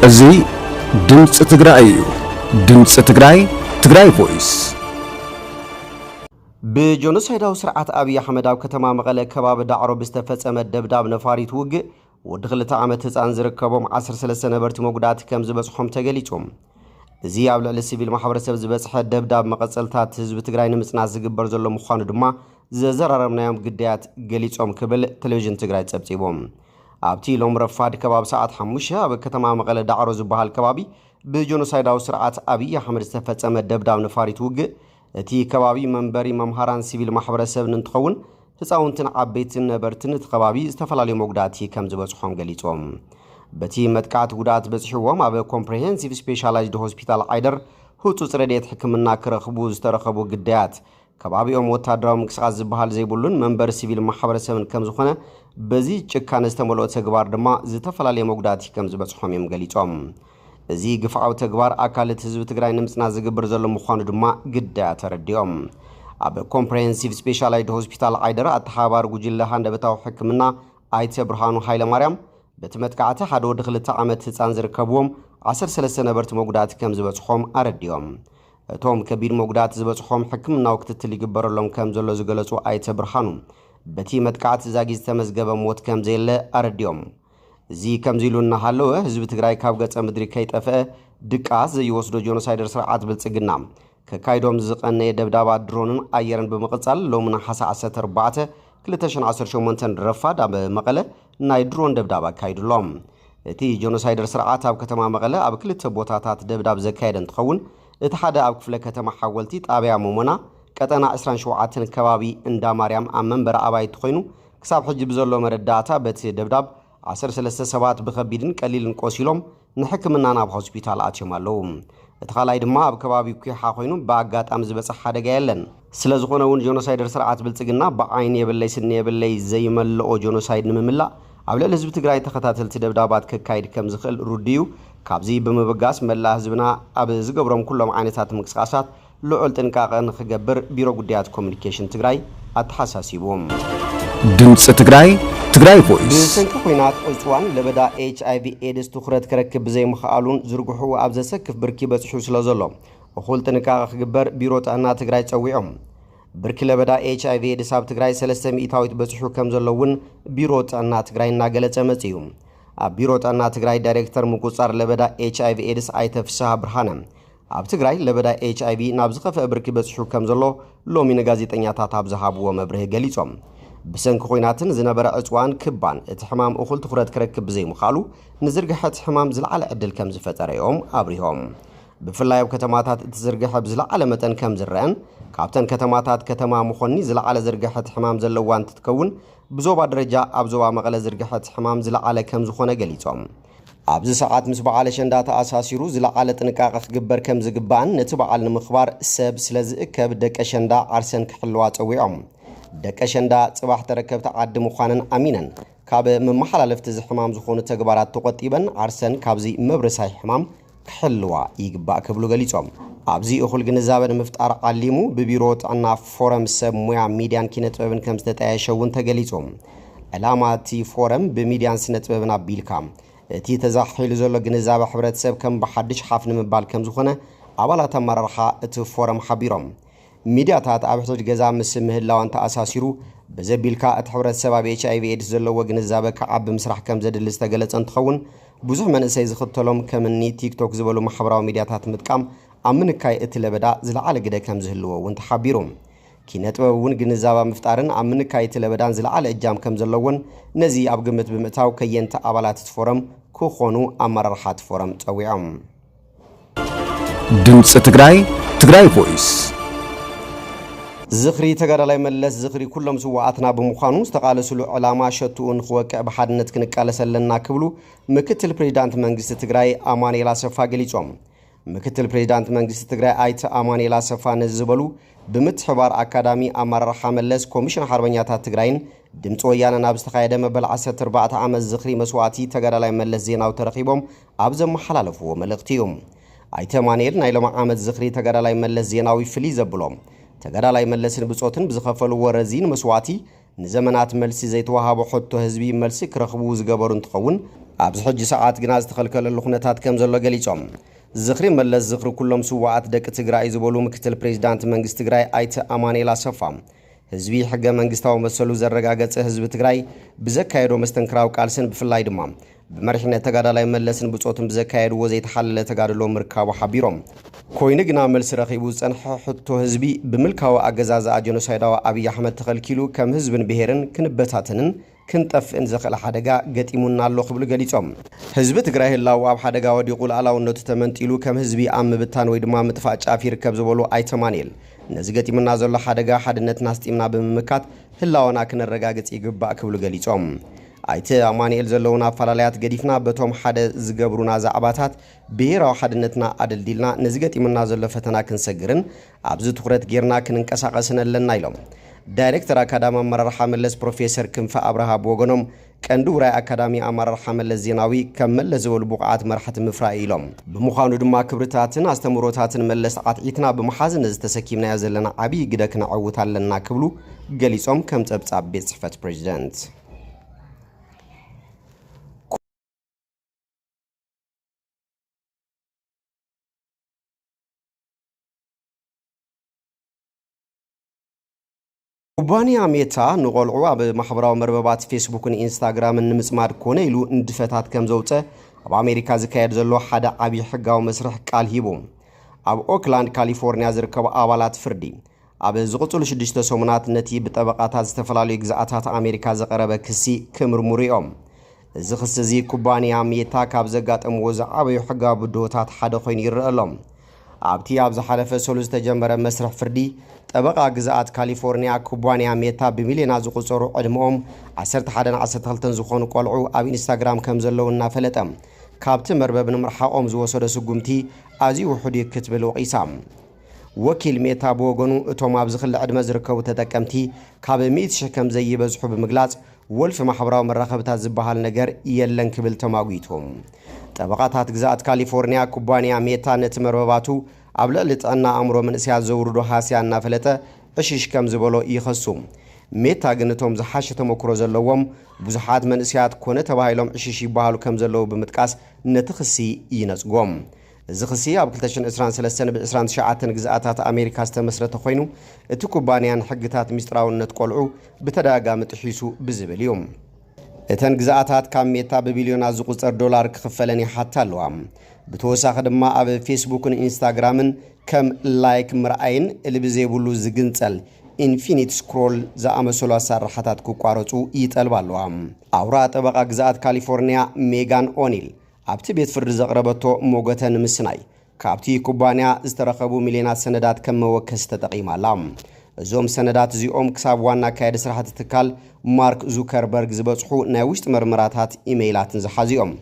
እዚ ድምፂ ትግራይ እዩ። ድምፂ ትግራይ ትግራይ ቮይስ። ብጆኖሳይዳዊ ስርዓት ኣብይ ኣሕመድ ኣብ ከተማ መቐለ ከባቢ ዳዕሮ ብዝተፈፀመ ደብዳብ ነፋሪት ውግእ ወዲ ክልተ ዓመት ህፃን ዝርከቦም 13 ነበርቲ መጉዳእቲ ከም ዝበፅሖም ተገሊፁ። እዚ ኣብ ልዕሊ ሲቪል ማሕበረሰብ ዝበፅሐ ደብዳብ መቐፀልታት ህዝቢ ትግራይ ንምፅናት ዝግበር ዘሎ ምዃኑ ድማ ዘዘራረብናዮም ግዳያት ገሊፆም ክብል ቴሌቪዥን ትግራይ ፀብፂቡ። ኣብቲ ሎም ረፋድ ከባቢ ሰዓት ሓሙሽተ ኣብ ከተማ መቐለ ዳዕሮ ዝበሃል ከባቢ ብጆኖሳይዳዊ ስርዓት ኣብይ ኣሕመድ ዝተፈፀመ ደብዳብ ነፋሪት ውግእ እቲ ከባቢ መንበሪ መምሃራን ሲቪል ማሕበረሰብን እንትኸውን ህፃውንትን ዓበይትን ነበርትን እቲ ከባቢ ዝተፈላለዩ መጉዳእቲ ከም ዝበፅሖም ገሊፆም። በቲ መጥቃዕቲ ጉድኣት በፂሕዎም ኣብ ኮምፕሬሄንሲቭ ስፔሻላይዝድ ሆስፒታል ዓይደር ህፁፅ ረድኤት ሕክምና ክረኽቡ ዝተረኸቡ ግዳያት ከባቢኦም ወታደራዊ ምንቅስቓስ ዝበሃል ዘይብሉን መንበሪ ሲቪል ማሕበረሰብን ከምዝኾነ በዚ ጭካነ ዝተመልኦ ተግባር ድማ ዝተፈላለየ መጉዳእቲ ከምዝበፅሖም እዮም ገሊፆም። እዚ ግፍዓዊ ተግባር ኣካል እቲ ህዝቢ ትግራይ ንምፅናት ዝግብር ዘሎ ምዃኑ ድማ ግዳያት ተረዲኦም። ኣብ ኮምፕሬሄንሲቭ ስፔሻላይድ ሆስፒታል ዓይደር ኣተሓባባሪ ጉጅለ ሃንደበታዊ ሕክምና ኣይተ ብርሃኑ ሃይለማርያም በቲ መጥቃዕቲ ሓደ ወዲ ክልተ ዓመት ህፃን ዝርከብዎም ዓሰርተ ሰለስተ ነበርቲ መጉዳእቲ ከምዝበፅሖም ኣረዲኦም። እቶም ከቢድ መጉዳእቲ ዝበፅሖም ሕክምናዊ ክትትል ይግበረሎም ከምዘሎ ዝገለፁ ኣይተ ብርሃኑ፣ በቲ መጥቃዕቲ ዛጊድ ዝተመዝገበ ሞት ከምዘየለ ኣረዲኦም። እዚ ከምዚ ኢሉ እናሃለወ ህዝቢ ትግራይ ካብ ገፀ ምድሪ ከይጠፈኣ ድቃስ ዘይወስዶ ጆኖሳይደር ስርዓት ብልፅግና ከካይዶም ዝቐነየ ደብዳባት ድሮንን ኣየርን ብምቕፃል ሎሚ ነሓሰ ዓሰርተ ኣርባዕተ ክልተ ሽሕን ዓሰርተ ሸሞንተን ረፋድ ኣብ መቐለ ናይ ድሮን ደብዳብ ኣካይዱሎም። እቲ ጆኖሳይደር ስርዓት ኣብ ከተማ መቐለ ኣብ ክልተ ቦታታት ደብዳብ ዘካየደ እንትኸውን እቲ ሓደ ኣብ ክፍለ ከተማ ሓወልቲ ጣብያ ሞሞና ቀጠና ዕስራን ሸውዓተን ከባቢ እንዳ ማርያም ኣብ መንበሪ ኣባይቲ ኮይኑ ክሳብ ሕጂ ብዘሎ መረዳእታ በቲ ደብዳብ ዓሰርተ ሰለስተ ሰባት ብከቢድን ቀሊልን ቆሲሎም ንሕክምና ናብ ሆስፒታል ኣትዮም ኣለዉ። እቲ ካልኣይ ድማ ኣብ ከባቢ ኲሓ ኮይኑ ብኣጋጣሚ ዝበጽሕ ሓደጋ የለን። ስለዝኾነ እውን ጆኖሳይደር ስርዓት ብልጽግና ብዓይኒ የብለይ ስኒ የብለይ ዘይመልኦ ጆኖሳይድ ንምምላእ ኣብ ልዕሊ ህዝቢ ትግራይ ተኸታተልቲ ደብዳባት ከካይድ ከምዝኽእል ርዱእ እዩ። ካብዚ ብምብጋስ መላእ ህዝብና ኣብ ዝገብሮም ኩሎም ዓይነታት ምንቅስቓሳት ልዑል ጥንቃቐ ንኽገብር ቢሮ ጉዳያት ኮሙኒኬሽን ትግራይ ኣተሓሳሲቡ። ድምጺ ትግራይ፣ ትግራይ ቮይስ፣ ብሰንኪ ኹናት ዕፅዋን ለበዳ ኤች ኣይቪ ኤድስ ትኹረት ክረክብ ብዘይምኽኣሉን ዝርግሕኡ ኣብ ዘሰክፍ ብርኪ በፂሑ ስለዘሎ እኹል ጥንቃቐ ክግበር ቢሮ ጥዕና ትግራይ ፀዊዑ። ብርኪ ለበዳ ኤች ኣይቪ ኤድስ ኣብ ትግራይ ሰለስተ ሚኢታዊት በፂሑ ከምዘሎ እውን ቢሮ ጥዕና ትግራይ እናገለፀ መፂኡ። ኣብ ቢሮ ጥዕና ትግራይ ዳይሬክተር ምቁፅፃር ለበዳ ኤች ኣይቪ ኤድስ ኣይተ ፍስሃ ብርሃነ ኣብ ትግራይ ለበዳ ኤችኣይቪ ናብ ዝኸፍአ ብርኪ በፂሑ ከምዘሎ ሎሚ ንጋዜጠኛታት ኣብ ዝሃብዎ መብርሂ ገሊፆም። ብሰንኪ ኹናትን ዝነበረ ዕፅዋን ክባን እቲ ሕማም እኹል ትኹረት ክረክብ ብዘይምኽኣሉ ንዝርግሐ እቲ ሕማም ዝለዓለ ዕድል ከምዝፈጠረ እዮም ኣብሪሆም። ብፍላይ ኣብ ከተማታት እቲ ዝርግሐ ብዝለዓለ መጠን ከምዝረኣን ካብተን ከተማታት ከተማ መኾኒ ዝለዓለ ዝርግሐ እቲ ሕማም ዘለዋ እንትትከውን ብዞባ ደረጃ ኣብ ዞባ መቐለ ዝርግሐ እቲ ሕማም ዝለዓለ ከምዝኾነ ገሊፆም። ኣብዚ ሰዓት ምስ በዓል ኣሸንዳ ተኣሳሲሩ ዝለዓለ ጥንቃቐ ክግበር ከምዝግባእን ነቲ በዓል ንምኽባር ሰብ ስለዝእከብ ደቂ ኣሸንዳ ዓርሰን ክሕልዋ ፀዊዖም። ደቂ ኣሸንዳ ፅባሕ ተረከብቲ ዓዲ ምዃነን ኣሚነን ካብ መመሓላለፍቲ እዚ ሕማም ዝኾኑ ተግባራት ተቖጢበን ዓርሰን ካብዚ መብረሳይ ሕማም ክሕልዋ ይግባእ ክብሉ ገሊፆም። ኣብዚ እኹል ግንዛበ ንምፍጣር ዓሊሙ ብቢሮ ጥዕና ፎረም ሰብ ሙያ ሚድያን ኪነጥበብን ከምዝተጣየሸ እውን ተገሊፁ። ዕላማ እቲ ፎረም ብሚድያን ስነጥበብን ኣቢልካ እቲ ተዛሕሒሉ ዘሎ ግንዛበ ሕብረተሰብ ከም ብሓዱሽ ሓፍ ንምባል ከምዝኾነ ኣባላት ኣመራርሓ እቲ ፎረም ሓቢሮም። ሚድያታት ኣብ ሕቶት ገዛ ምስ ምህላዋን ተኣሳሲሩ ብዘቢልካ እቲ ሕብረተሰብ ኣብ ኤች ኣይቪ ኤድስ ዘለዎ ግንዛበ ክዓቢ ምስራሕ ከምዘድሊ ዝተገለፀ እንትኸውን ብዙሕ መንእሰይ ዝኽተሎም ከምኒ ቲክቶክ ዝበሉ ማሕበራዊ ሚድያታት ምጥቃም ኣብ ምንካይ እቲ ለበዳ ዝለዓለ ግደ ከምዝህልዎ እውን ተሓቢሩ። ኪነ ጥበብ እውን ግንዛበ ኣብ ምፍጣርን ኣብ ምንካይ እቲ ለበዳን ዝለዓለ እጃም ከምዘለዎን ነዚ ኣብ ግምት ብምእታው ከየንቲ ኣባላት እቲ ፎረም ክኾኑ ኣመራርሓ እቲ ፎረም ፀዊዖም። ድምፂ ትግራይ ትግራይ ቮይስ ዝኽሪ ተጋዳላይ መለስ ዝኽሪ ኩሎም ስዋኣትና ብምዃኑ ዝተቓለስሉ ዕላማ ሸትኡ ንክወቅዕ ብሓድነት ክንቃለስ ኣለና ክብሉ ምክትል ፕሬዚዳንት መንግስቲ ትግራይ ኣማኑኤል ኣሰፋ ገሊፆም። ምክትል ፕሬዚዳንት መንግስቲ ትግራይ ኣይተ ኣማኑኤል ኣሰፋ ነዚ ዝበሉ ብምትሕባር ኣካዳሚ ኣመራርሓ መለስ ኮሚሽን ሓርበኛታት ትግራይን ድምፂ ወያነን ኣብ ዝተኻየደ መበል 14 ዓመት ዝኽሪ መስዋእቲ ተጋዳላይ መለስ ዜናዊ ተረኺቦም ኣብ ዘመሓላለፍዎ መልእኽቲ እዩ። ኣይተ ማንኤል ናይ ሎሚ ዓመት ዝኽሪ ተጋዳላይ መለስ ዜናዊ ፍልይ ዘብሎ ተጋዳላይ መለስን ብፆትን ብዝኸፈልዎ ረዚን መስዋእቲ ንዘመናት መልሲ ዘይተወሃቦ ሕቶ ህዝቢ መልሲ ክረኽቡ ዝገበሩ እንትኸውን ኣብዚ ሕጂ ሰዓት ግና ዝተኸልከለሉ ኩነታት ከምዘሎ ገሊፆም። ዝኽሪ መለስ ዝኽሪ ኩሎም ስውኣት ደቂ ትግራይ እዩ ዝበሉ ምክትል ፕሬዚዳንት መንግስቲ ትግራይ ኣይተ ኣማንኤል ኣሰፋ ህዝቢ ሕገ መንግስታዊ መሰሉ ዘረጋገፀ ህዝቢ ትግራይ ብዘካየዶ መስተንክራዊ ቃልስን ብፍላይ ድማ ብመሪሕነት ተጋዳላይ መለስን ብፆቱን ብዘካየድዎ ዘይተሓለለ ተጋድሎ ምርካቡ ሓቢሮም። ኮይኑ ግና መልሲ ረኺቡ ዝፀንሐ ሕቶ ህዝቢ ብምልካዊ ኣገዛዝኣ ጀኖሳይዳዊ ኣብይ ኣሕመድ ተኸልኪሉ ከም ህዝብን ብሄርን ክንበታተንን፣ ክንጠፍእን ዘኽእል ሓደጋ ገጢሙና ኣሎ ክብሉ ገሊፆም። ህዝቢ ትግራይ ህላወኡ ኣብ ሓደጋ ወዲቑ ልኣላውነቱ ተመንጢሉ ከም ህዝቢ ኣብ ምብታን ወይ ድማ ምጥፋእ ጫፍ ይርከብ ዝበሉ ኣይተ ኣማኒኤል ነዚ ገጢሙና ዘሎ ሓደጋ ሓድነትና ኣስጢምና ብምምካት ህላወና ክነረጋግፅ ይግባእ ክብሉ ገሊፆም። ኣይተ ኣማኒኤል ዘለዉና ኣፋላላያት ገዲፍና በቶም ሓደ ዝገብሩና ዛዕባታት ብሄራዊ ሓድነትና ኣደልዲልና ነዚ ገጢሙና ዘሎ ፈተና ክንሰግርን ኣብዚ ትኹረት ገይርና ክንንቀሳቐስ ነለና ኢሎም። ዳይሬክተር ኣካዳሚ ኣመራርሓ መለስ ፕሮፌሰር ክንፈ ኣብርሃ ብወገኖም፣ ቀንዲ ውራይ ኣካዳሚ ኣማራርሓ መለስ ዜናዊ ከም መለስ ዝበሉ ብቑዓት መራሕቲ ምፍራይ እዩ ኢሎም። ብምዃኑ ድማ ክብርታትን ኣስተምህሮታትን መለስ ዓትዒትና ብምሓዝ ነዚ ተሰኪምናዮ ዘለና ዓብዪ ግደ ክነዐውት ኣለና ክብሉ ገሊፆም ከም ፀብፃብ ቤት ፅሕፈት ፕሬዚደንት። ኩባንያ ሜታ ንቖልዑ ኣብ ማሕበራዊ መርበባት ፌስቡክን ኢንስታግራምን ንምጽማድ ኮነ ኢሉ ንድፈታት ከም ዘውጸ ኣብ ኣሜሪካ ዝካየድ ዘሎ ሓደ ዓብዪ ሕጋዊ መስርሕ ቃል ሂቡ። ኣብ ኦክላንድ ካሊፎርንያ ዝርከቡ ኣባላት ፍርዲ፣ ኣብ ዝቕጽሉ ሽዱሽተ ሰሙናት ነቲ ብጠበቓታት ዝተፈላለዩ ግዝኣታት ኣሜሪካ ዝቐረበ ክሲ ክምርምሩ እዮም። እዚ ክሲ እዚ ኩባንያ ሜታ ካብ ዘጋጠምዎ ዝዓበዩ ሕጋዊ ብድሆታት ሓደ ኮይኑ ይረኣ ኣሎ። ኣብቲ ኣብ ዝሓለፈ ሰሉስ ዝተጀመረ መስርሕ ፍርዲ፣ ጠበቓ ግዝኣት ካሊፎርንያ፣ ኩባንያ ሜታ ብሚልዮናት ዝቑጸሩ ዕድመኦም ዓሰርተ ሓደን ዓሰርተ ክልተን ዝኾኑ ቆልዑ ኣብ ኢንስታግራም ከም ዘለዉ እናፈለጠ ካብቲ መርበብ ንምርሓቖም ዝወሰዶ ስጉምቲ ኣዝዩ ውሑድ እዩ ክትብል ወቒሳ። ወኪል ሜታ ብወገኑ እቶም ኣብዚ ክሊ ዕድመ ዝርከቡ ተጠቀምቲ ካብ ሚእቲ ሽሕ ከም ዘይበዝሑ ብምግላጽ ወልፊ ማሕበራዊ መራኸብታት ዝበሃል ነገር የለን ክብል ተማጒቱ። ጠበቓታት ግዝኣት ካሊፎርኒያ፣ ኩባንያ ሜታ ነቲ መርበባቱ ኣብ ልዕሊ ጥዕና ኣእምሮ መንእሰያት ዘውርዶ ሃስያ እናፈለጠ ዕሽሽ ከም ዝበሎ ይኸሱ። ሜታ ግን እቶም ዝሓሸ ተመክሮ ዘለዎም ብዙሓት መንእሰያት ኮነ ተባሂሎም ዕሽሽ ይበሃሉ ከም ዘለዉ ብምጥቃስ ነቲ ክሲ ይነጽጎ። እዚ ክሲ ኣብ ክልተ ሽሕን ዕስራን ሰለስተን ብ ዕስራን ትሽዓተን ግዝኣታት ኣሜሪካ ዝተመስረተ ኮይኑ፣ እቲ ኩባንያ ንሕግታት ሚስጥራውነት ቆልዑ ብተደጋጋሚ ጥሒሱ ብዝብል እዩ። እተን ግዝኣታት ካብ ሜታ ብቢልዮናት ዝቑጸር ዶላር ክኽፈለን ይሓታ ኣለዋ። ብተወሳኺ ድማ ኣብ ፌስቡክን ኢንስታግራምን ከም ላይክ ምርኣይን እሊ ብዘይብሉ ዝግንጸል ኢንፊኒት ስክሮል ዝኣመሰሉ ኣሳርራሓታት ክቋረጹ ይጠልባ ኣለዋ። ኣውራ ጠበቓ ግዝኣት ካሊፎርንያ ሜጋን ኦኒል ኣብቲ ቤት ፍርዲ ዘቕረበቶ ሞገተ ንምስናይ፣ ካብቲ ኩባንያ ዝተረኸቡ ሚልዮናት ሰነዳት ከም መወከሲ ተጠቒማ ኣላ። እዞም ሰነዳት እዚኦም ክሳብ ዋና ኣካያዲ ስራሕ እቲ ትካል ማርክ ዙከርበርግ ዝበጽሑ ናይ ውሽጢ መርመራታት ኢመይላትን ዝሓዙ እዮም።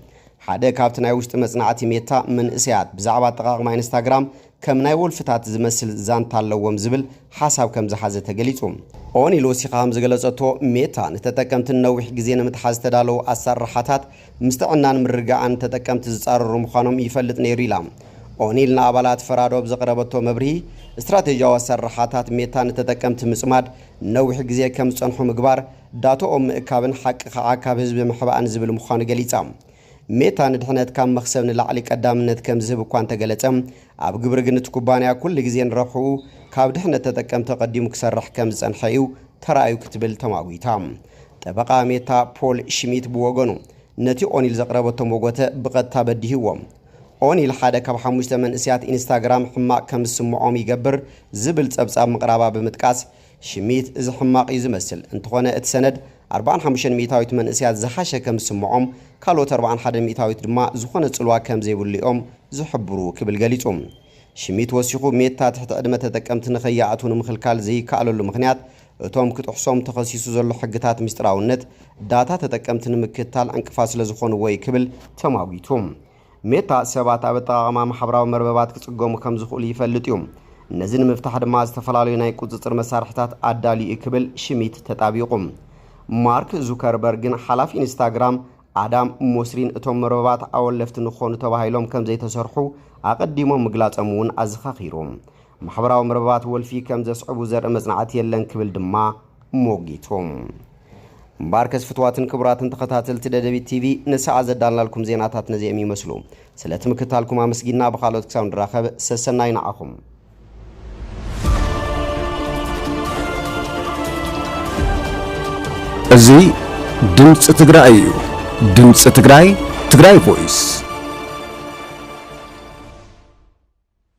ሓደ ካብቲ ናይ ውሽጢ መጽናዕቲ ሜታ፣ መንእሰያት ብዛዕባ ኣጠቓቕማ ኢንስታግራም ከም ናይ ወልፍታት ዝመስል ዛንታ ኣለዎም ዝብል ሓሳብ ከም ዝሓዘ ተገሊጹ። ኦኒ ሎሲካ ከም ዝገለጸቶ፣ ሜታ ንተጠቀምቲ ንነዊሕ ግዜ ንምትሓዝ ዝተዳለዉ ኣሰራርሓታት ምስ ጥዕናን ምርግጋእን ተጠቀምቲ ዝጻረሩ ምዃኖም ይፈልጥ ነይሩ ኢላ። ኦኒል ንኣባላት ፈራዶ ኣብ ዘቕረበቶ መብርሂ፣ ስትራቴጂያዊ ኣሰራርሓታት ሜታ ንተጠቀምቲ ምጽማድ፣ ንነዊሕ ግዜ ከም ዝጸንሑ ምግባር፣ ዳታኦም ምእካብን ሓቅኻ ዓካብ ህዝቢ ምሕባእን ዝብል ምዃኑ ገሊጻ። ሜታ ንድሕነት ካብ መኽሰብ ንላዕሊ ቀዳምነት ከም ዝህብ እኳ እንተገለጸ፣ ኣብ ግብሪ ግን እቲ ኩባንያ ኩሉ ግዜ ንረብሕኡ ካብ ድሕነት ተጠቀምቲ ኣቐዲሙ ክሰርሕ ከም ዝጸንሐ እዩ ተራእዩ ክትብል ተማጒታ። ጠበቓ ሜታ ፖል ሽሚት ብወገኑ፣ ነቲ ኦኒል ዘቕረበቶ መጐተ ብቐጥታ በዲህዎ። ኦኒል ሓደ ካብ ሓሙሽተ መንእሰያት ኢንስታግራም ሕማቕ ከም ዝስምዖም ይገብር ዝብል ጸብጻብ ምቕራባ ብምጥቃስ፣ ሽሚት እዚ ሕማቕ እዩ ዝመስል። እንተኾነ እቲ ሰነድ ኣርብዓን ሓሙሽተን ሚእታዊት መንእሰያት ዝሓሸ ከም ዝስምዖም፣ ካልኦት ኣርብዓን ሓደን ሚእታዊት ድማ ዝኾነ ጽልዋ ከም ዘይብሉ እዮም ዝሕብሩ ክብል ገሊጹ። ሽሚት ወሲኹ ሜታ ትሕቲ ዕድመ ተጠቀምቲ ንኸይኣትዉ ንምኽልካል ዘይከኣለሉ ምኽንያት እቶም ክጥሕሶም ተኸሲሱ ዘሎ ሕግታት ምስጢራውነት ዳታ ተጠቀምቲ ንምክትታል ዕንቅፋት ስለዝኾንዎ'ዩ ክብል ተማጒቱ። ሜታ፣ ሰባት ኣብ ኣጠቓቕማ ማሕበራዊ መርበባት ክጽገሙ ከም ዝኽእሉ ይፈልጥ እዩ፣ ነዚ ንምፍታሕ ድማ ዝተፈላለዩ ናይ ቁጽጽር መሳርሒታት ኣዳልዩ እዩ ክብል ሽሚት ተጣቢቑ። ማርክ ዙከርበርግን ሓላፊ ኢንስታግራም ኣዳም ሞስሪን እቶም መርበባት ኣወለፍቲ ንክኾኑ ተባሂሎም ከም ዘይተሰርሑ ኣቐዲሞም ምግላጾም እውን ኣዘኻኺሩ። ማሕበራዊ መርበባት ወልፊ ከም ዘስዕቡ ዘርኢ መጽናዕቲ የለን ክብል ድማ ሞጊቱ። እምበኣርከስ ፍትዋትን ክቡራትን ተኸታተልቲ ደደቢት ቲቪ ንሰዓት ዘዳልናልኩም ዜናታት ነዚኦም ይመስሉ። ስለቲ ምክታልኩም ኣመስጊንና ብኻልኦት ክሳብ ንራኸብ ሰሰናዩ ንዓኹም። እዚ ድምፂ ትግራይ እዩ። ድምፂ ትግራይ ትግራይ ቮይስ